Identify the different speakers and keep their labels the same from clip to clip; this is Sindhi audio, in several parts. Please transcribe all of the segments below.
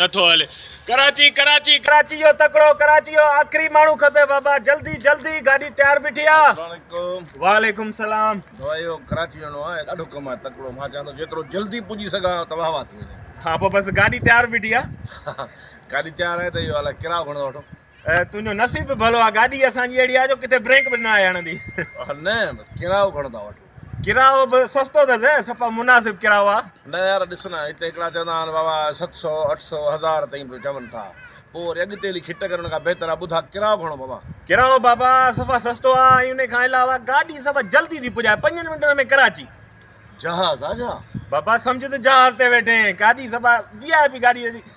Speaker 1: نه ٿو هلي
Speaker 2: ڪراچي ڪراچي ڪراچي جو تڪڙو ڪراچي جو آخري ماڻهو کپي بابا جلدي جلدي گاڏي تيار بيٺي آ السلام عليڪم وعليڪم السلام بابا اهو ڪراچي
Speaker 3: ويڻو آ ڏاڍو ڪم آ تڪڙو مان چاهيان ٿو جيترو جلدي پڄي سگهان ته واهوا ٿي وڃي ها پو بس گاڏي
Speaker 2: تيار بيٺي آ گاڏي تيار
Speaker 3: آهي ته اهو الائي ڪرايو گهڻو ٿا وٺو تنهنجو نصيب
Speaker 2: به ڀلو آ گاڏي اسان جي اهڙي آ جو ڪٿي بريڪ به نه آهي هڻندي. نه
Speaker 3: ڪرايو گهڻو ٿا وٺو. ڪرايو به
Speaker 2: سستو اٿس سپا مناسب ڪرايو آ. نه يار ڏس نه هتي
Speaker 3: هڪڙا چوندا آهن بابا ست سؤ اٺ سؤ هزار تائين به چون ٿا پو وري اڳتي هلي کٽ ڪرڻ کان بهتر آ ٻڌا ڪرايو گهڻو بابا. ڪرايو بابا
Speaker 2: سفا سستو آ ۽ ان کان علاوه گاڏي سفا جلدي ٿي پڄائي پنجن منٽن ۾ ڪراچي. جهاز آ
Speaker 3: جا. بابا سمجهه ته
Speaker 2: جهاز تي ويٺين گاڏي سفا VIP گاڏي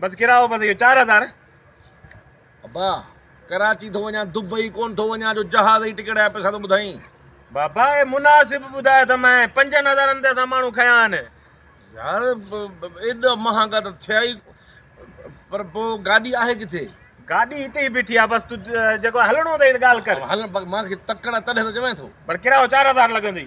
Speaker 3: بس ڪرايو بس اهو چار هزار. ابا ڪراچي ٿو وڃان دبئي ڪون ٿو وڃان جو جهاز جي ٽڪيٽ جا پئسا ٿو ٻڌائين. بابا اي
Speaker 2: مناسب ٻڌايو ته مئن پنجن هزارن تي اسان ماڻهو کنيا آهن. يار
Speaker 3: ايڏا مهانگا ته ٿيا ئي پر پوء گاڏي آهي ڪٿي؟ گاڏي هتي ئي
Speaker 2: بيٺي آ بس تو جيڪو هلڻو اٿئي ته ڳالهه ڪر. هلڻ مان کي تڪڙ
Speaker 3: آ تڏهن ته چوين ٿو. پر ڪرايو چار هزار
Speaker 2: لڳندئي.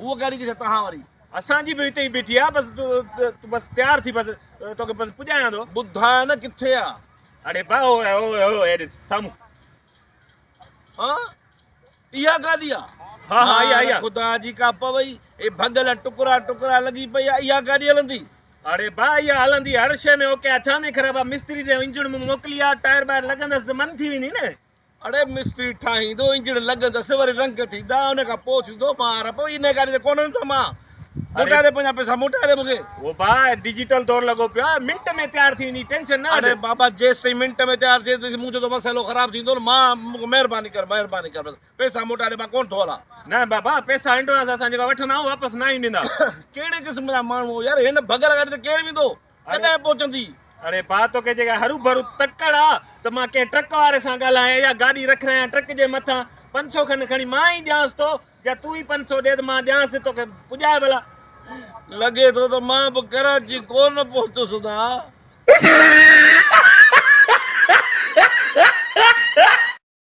Speaker 3: هوء ڪهڙي ڪجهه تهان وري. اسان جي به هتي ئي
Speaker 2: بيٺي آ بس تون بس تيار ٿي بس توکي بس پڄايان ٿو. ٻڌاء نه ڪٿي آ.
Speaker 3: اڙي با
Speaker 2: هو هو هو هي ڏس سامهون.
Speaker 3: ها اها گاڏي آ. ها ها اها اها.
Speaker 2: خدا جي ڪا پوي
Speaker 3: اي ڀڳل ٽڪرا ٽڪرا لڳي پئي آ اها گاڏي هلندي. اڙي با اها
Speaker 2: هلندي هر شي ۾ اوڪي آ ڇا ۾ خراب آ مستري ڏي انجڻ مون موڪلي آ ٽائر ٻائر لڳندس ته من ٿي ويندي نه. اڙي مستري
Speaker 3: ٺاهيندو انجڻ لڳندس وري رنگ ٿيندا ان کان پوء ٿيندو ٻار پوء ان ڳالهه تي ڪونهن ته مان موٽائي ڏي پنهنجا پئسا موٽائي ڏي مونکي او با ڊجيٽل
Speaker 2: دور لڳو پيو آهي منٽ ۾ تيار ٿي ويندي ٽينشن نه اڙي بابا جيستائين
Speaker 3: منٽ ۾ تيار ٿئي ته منهنجو ته مسئلو خراب ٿيندو نه مان مونکي مهرباني ڪر مهرباني ڪر بس پئسا موٽائي ڏي مان ڪونهن ٿو هلان نه بابا پئسا
Speaker 2: ايڊوانس اسان جيڪا وٺندا آهيون واپس ناهين ڏيندا ڪهڙي قسم جا
Speaker 3: ماڻهو يار هن بغل گاڏي تي ڪير ويندو ڪڏهن پهچندي؟ اڙي ڀاء توکي
Speaker 2: جيڪا هروڀرو تڪڙ آ ته مان ڪنهن ٽرڪ واري سان ڳالهايان يا گاڏي رکرايان ٽرڪ جي مٿان پنج سو کن کڻي مان ئي ڏيانس ٿو يا تون ئي پنج سو ڏي ته مان ڏيانس ٿي توکي پڄائي ڀلا. لڳي
Speaker 3: ٿو ته مان به ڪراچي ڪونه پهتس نا.